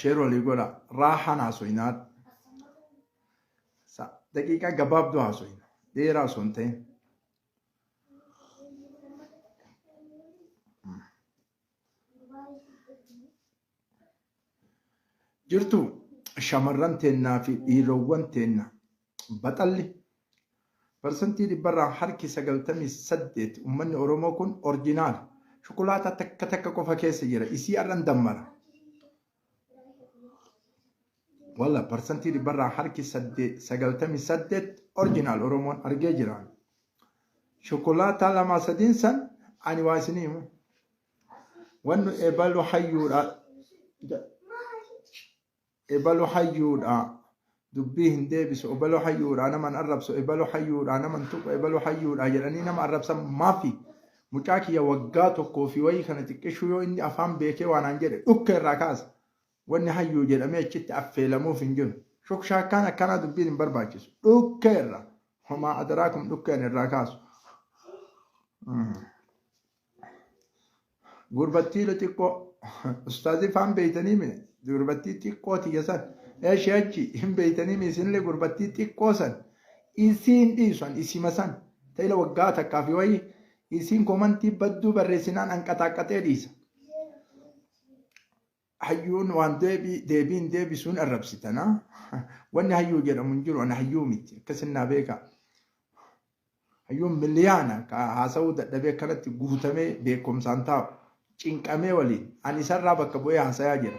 Sheer walii godha. Raahaan haasoyinaa. Daqiiqaa gabaabduu haasoyina. Dheeraa osoo hin ta'in. Jirtu shamarran teennaa fi dhiirowwan teenna Baxalli parsantii dhibbarraa harki 98 ummanni Oromoo kun orjinaala. Shukulaataa takka takka qofa keessa jira. Isii har'an dammara. Walla parsantii dhibbarraa harki 98 orjinaal Oromoon argee jira. Shukulaataa lamaa sadiin san ani waa isinii himu. Wannu ebalu hayyuudha. Ebalu hayyuudha. Dubbii hin deebisu. Ebalu hayyuudha nama hin arrabsu. Ebalu hayyuudha nama hin tuqu. Ebalu hayyuudha jedhanii nama arrabsan maafi? Mucaa kiyya waggaa tokkoo fi wayii kana xiqqishuu yoo inni afaan beekee waan aan jedhe dhukkee irraa kaasa. Wanni hayyuu jedhamee achitti affeelamuuf hin jiru. Shokshaakkaan akkanaa dubbiin hin barbaachisu. Dhukkee irraa. Homaa adaraakum dhukkeen irraa kaasu. Mm. Gurbattii xiqqoo ustaazii faan beeytanii mee gurbattii xiqqoo tiyya san eshi achi hin beeytanii mee isinillee gurbattii xiqqoo san isiin dhiisan isima san ta'ila waggaa takkaa fi wayii isiin komantii badduu barreessinaan anqaxaaqqaxee dhiisa. hayyuun waan deebii deebiin deebisuun arrabsitana wanni hayyuu jedhamu hin jiru ana hayyuu miti akkasin naa beekaa hayyuun miliyaana ka haasa'uu dadhabee kanatti guutamee beekumsaan taa'u cinqamee waliin ani isarraa bakka bu'ee haasayaa jira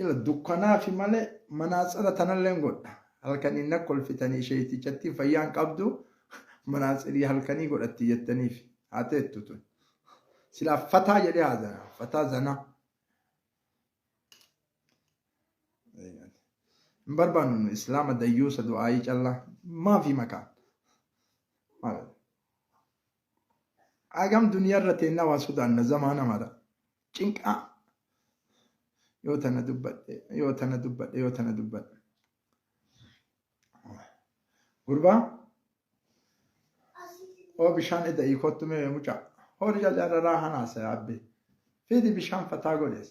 ila dukkanaafi malee manaatsira tanalleen godha halkan inna kolfitanii sheeytichattii fayyaan qabdu manaatsirii halkanii godhatti jettaniif haa teettu tun silaa fataa jedhee haa zana fataa zanaa hin barbaannu nu islaama dayyuusa du'aayii callaa maafi makaan maal Hagam duniyarra teenna waa sodaanna zamaana mara. Cinqaa yoo tana dubbadhe yoo tana dubbadhe yoo tana dubbadhe. Gurbaa oo bishaan eda'ii kottu mee mucaa horii jalaa raraa hanaasa yaabbe fiidi bishaan fataa godhees.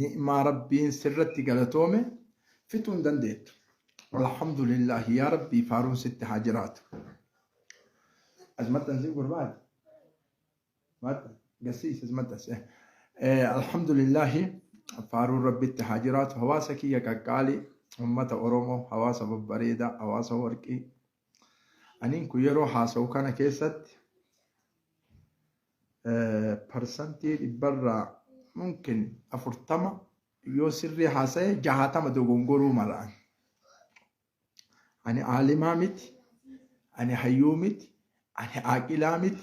ni'maa rabbiin sirratti galatoome fixuu hin dandeettu alhamdulillah yaa rabbii faaruun sitti haa jiraatu asmattan si gurbaati matta gasiis asmatta si alhamdulillah faaruun rabbitti haa jiraatu hawaasa kiyya qaqqaali ummata oromoo hawaasa babbareedaa hawaasa warqii Aniin kun yeroo haasa'u kana keessatti parsantii dhibbarraa mumkin afurtama yoo sirrii haasa'e jahaatama dogongoruu malaan. Ani aalimaa miti, ani hayyuu miti, ani aaqilaa miti.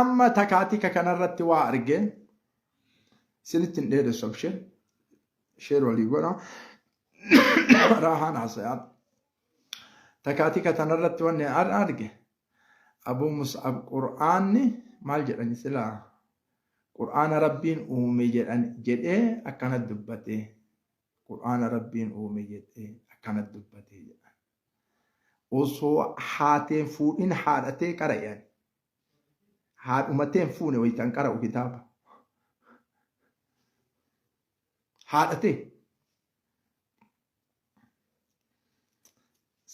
Amma takaatika kanarratti waa arge sinitti hin dheeressu abshir sheer walii godha raahaan haasayaan takaatika tanarratti wanni an arge abuu mus'ab qur'aanni maal jedhani silaa qur'aana rabbiin uume jedhan jedhee akkana dubbate qur'aana rabbiin uume jedhee akkana dubbate jedhan Osoo haateen fuudhin haadhatee qara'e ani. Haadhumateen fuune wayitan qara'u kitaaba. Haadhatee.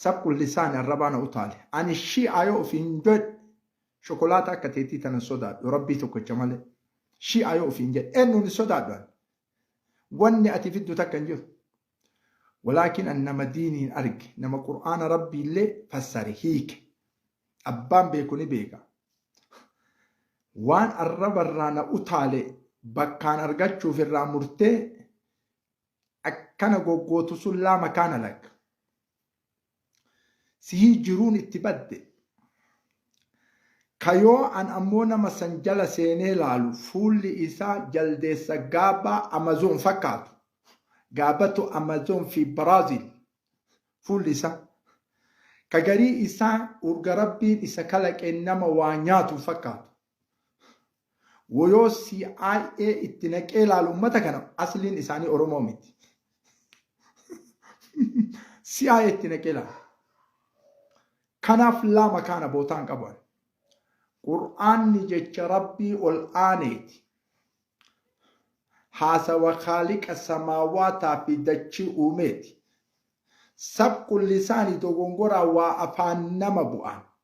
Sakkun lisaani arrabaa na utaale. Ani shi'aa yoo ofiin jedhe shokolaata akka teetii tana sodaadhu rabbii tokkocha malee. Shi'aa yoo ofiin jedhe eenyuun hin sodaadhu ani. Wanni ati fiddu takka hin jiru. Walaakin an nama diiniin arge, nama Qur'aana Rabbiillee fassare, hiike. Abbaan beeku ni beeka. Waan arrabarraa na utaale bakkaan argachuuf irraa murtee akkana goggootu sun laa makaana lak. sihii jiruun itti badde ka yoo an ammoo nama san jala seenee laalu fuulli isaa jaldeessa gaabaa amazoon fakkaatu gaabatu amazoon fi biraazil fuulli isaa ka garii isaa urga rabbiin isa kalaqeen nama waa nyaatu fakkaatu Woyoo CIA itti naqee laalu ummata kana asliin isaanii Oromoo miti. CIA itti naqee laalu. Kanaaf laa makaana bootaan qaban. Qur'aanni jecha Rabbii ol aaneeti. Haasawa kaaliqa samaawaataa fi dachii uumeeti. Sabqu lisaani dogongoraa waa afaan nama bu'aan.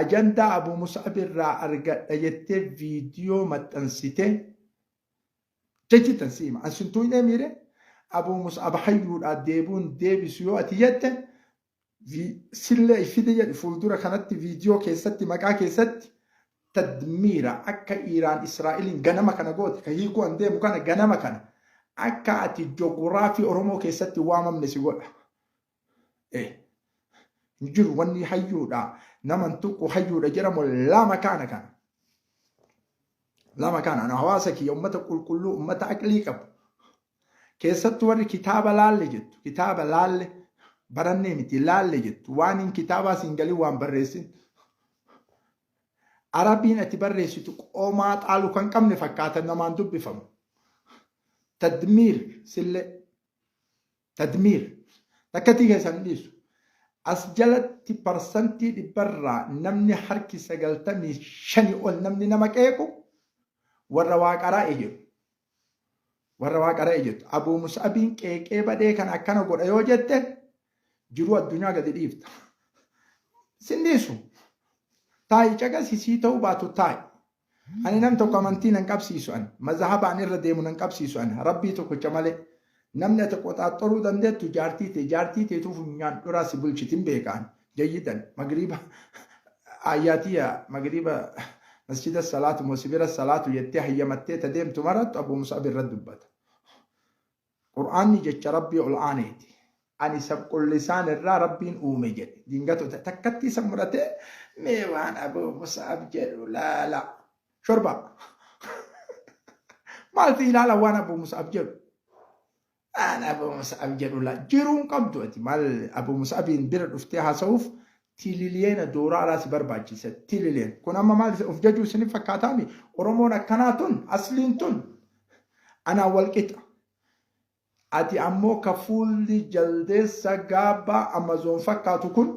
Ajandaa Abu Mus'ab irraa argadha jettee viidiyoo maxxansitee jechi tan si hima. An sin tuuynee miire Abu Mus'ab hayyuudhaa deebuun deebisu yoo ati jette sillee fidi jedhi fuuldura kanatti viidiyoo keessatti maqaa keessatti tadmiira akka Iiraan Israa'eliin ganama kana goote ka hiikuu an deemu kana ganama kana akka ati joguraafii Oromoo keessatti waamamne si godha. Eh, hin jiru wanni hayyuudha nama hin tuqu hayyuudha jedhamu lama kaana kana. Lama kaana ana hawaasa kiyya ummata qulqulluu ummata aqlii qabu. Keessattuu warri kitaaba laalle jettu kitaaba laalle barannee miti laalle jettu waan hin kitaabaa siin galii waan barreessin. Arabiin ati barreessitu qomaa xaalu kan qabne fakkaata namaan dubbifamu. Tadmiir sillee Tadmiir. Takkatii keessan hin dhiisu. As jalatti parsantii dhibbarraa namni harki sagaltamii shani ol namni nama qeequ warra waa qaraa'e jedhu. Warra waa qaraa'e jettu. Abuu Mus'abiin qeeqee badhee kan akkana godha yoo jette jiruu addunyaa gadi dhiifta. Sin dhiisu. Taa'i caqasisii ta'uu baatu taa'i. Ani nam tokko amantii nan qabsiisu an, mazahaba an irra deemu nan qabsiisu an, Rabbii tokkicha malee. Namni ati qoxaaxxoruu dandeettu jaartii tee, jaartii teetuu funyaan dhuraa si bulchiti hin beeka an, jayyidan. Magriiba Aayyaa tiyya magriiba masjida salaatu moo si bira salaatu jettee hayyamattee ta deemtu maraattu Abuu Mus'ab irra dubbata. Qur'aanni jecha Rabbii ol aaneeti. Ani sabqullisaan irraa Rabbiin uume jedhe. Dingatota takkatti isa muratee mee waan Abuu Mus'ab jedhu laala. Shorba. Maalti ilaala waan Abuu Mus'ab jedhu? Waan Abuu Mus'ab jedhu laala. Jiruun qabdu ati maal Abuu Mus'abiin bira dhuftee haasa'uuf Tililiyeena dooraalaa si barbaachisa tililiyen kun amma maal of jajuu isin fakkaataami oromoon akkanaa tun asliin tun anaa wal qixa ati ammoo ka fuulli jaldeessa gaabbaa amazoon fakkaatu kun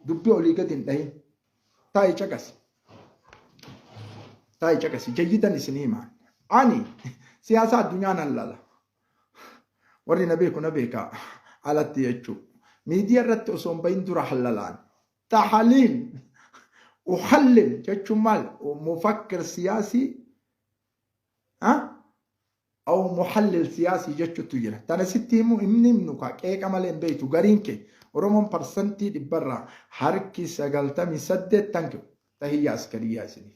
dubbi olii gadi hin dhahin taa'i caqasi taa'i caqasi jayyidan isin himaan ani siyaasa addunyaa nan lala Warri na beeku na beeka alatti jechuu. Miidiyaa irratti osoo hin bahin dura hallalaan. Tahaliil. Uhallil jechuun maal? Mufakkir siyaasii. Aw muhallil siyaasii jechuutu jira. Tana sitti himu himni himnu kaa qeeqa malee hin beektu gariin kee. Oromoon parsantii dhibbarraa harki sagaltamii saddeet tankiu tahiyyaa askariyyaa isiniif.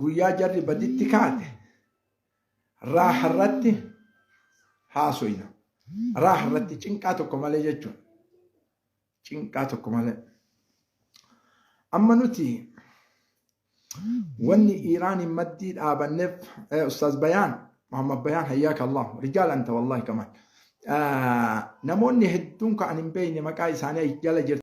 guyyaa jarri baditti kaate raaha irratti haasoyna raaha irratti cinqaa tokko malee jechuun cinqaa tokko malee amma nuti wanni iiraaniin maddii dhaabanneef eh, ustaaz bayaan muhammad bayaan hayyaaka allah rijaal anta wallahi kamaan namoonni hedduun ka an hin beekne maqaa isaanii jala jirti